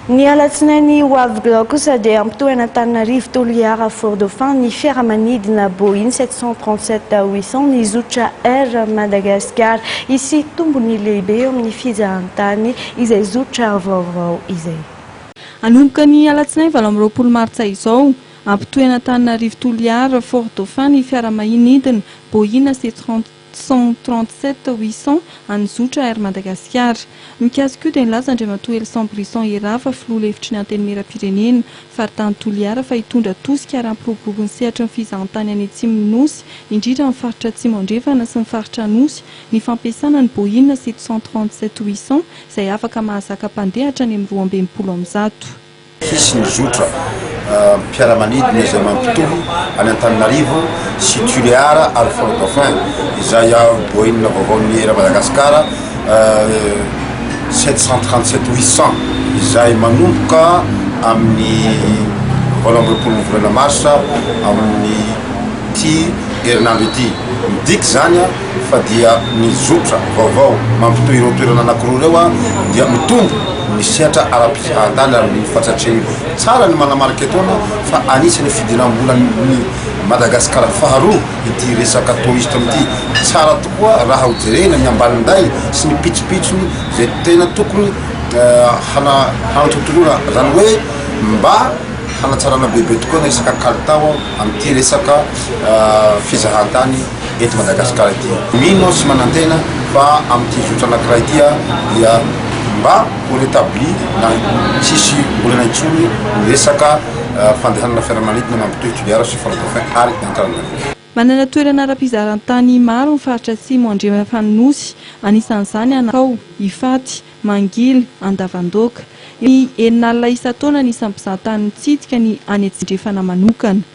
Ny alatsinainy ho avy glao kosa dia hampitohan'Antananarivo Toliara Fort Dauphin ny fiaramanidina Boeing sept cent trente sept huit cent ny zotra Air Madagascar. Hisy tombony lehibe eo amin'ny fizahantany izay zotra vaovao izay. Hanomboka ny alatsinainy valo amby roapolo martsa izao, hampitohy an'Antananarivo Toliara Fort Dauphin ny fiaramahinidina Boeing sept cent. cent trente sept huit cent an'ny zotra Air Madagasikara. Mikasika io dia nilaza Andriamatoa Helson Brisson Herava, filoha lefitry ny Antenimierampirenena, faritany Toliara fa hitondra tosika ary hampiroborobo ny sehatry ny fizahantany any atsimon'ny Nosy, indrindra amin'ny faritra Atsimo Andrefana sy ny faritra Anosy, ny fampiasana ny Boeing sept cent trente sept huit cent izay afaka mahazaka mpandeha hatrany amin'ny roa amby enimpolo amin'ny zato. Hisy ny zotra mpiara-manidina izay mampitohy an'i Antananarivo sy Tuléar ary Fort Dauphin izay boina vaovaon'ny Air Madagascar sept cent trente sept huit cent izay manomboka amin'ny valo amby roapolon'ny volana marsa amin'ity herinandro ity. Midika izany fa dia ny zotra vaovao mampitohy ireo toerana anankiroa ireo dia mitombo ny sehatra ara-pizahan-tany ary mino fatratr'io tsara ny manamarika etoana fa anisan'ny fidiram-bolan'i Madagasikara faharoa ity resaka touriste ity. Tsara tokoa raha ho jerena ny ambaninday sy ny pitsopitsony izay tena tokony hanatontoloana izany hoe mba hanatsarana bebe tokoa ny resaka kalitao amin'ity resaka fizahan-tany eto Madagasikara ity. Mino aho sy manantena fa amin'ity zotra anankiray ity dia mba ho retabli na tsisy olana intsony ny resaka fandehanana fiaramanidina mampitohy Toliara sy Fort Dauphin ary Antananarivo. Manana toerana ara-pizaran-tany maro ny faritra Atsimo Andrefan' ny Nosy, anisan'izany Anakao, Ifaty, Mangily, Andavandoaka. Eo amin' ny enin'alina isan-taona ny isan'ny mpizahatany mitsidika ny any Atsimo Andrefana manokana.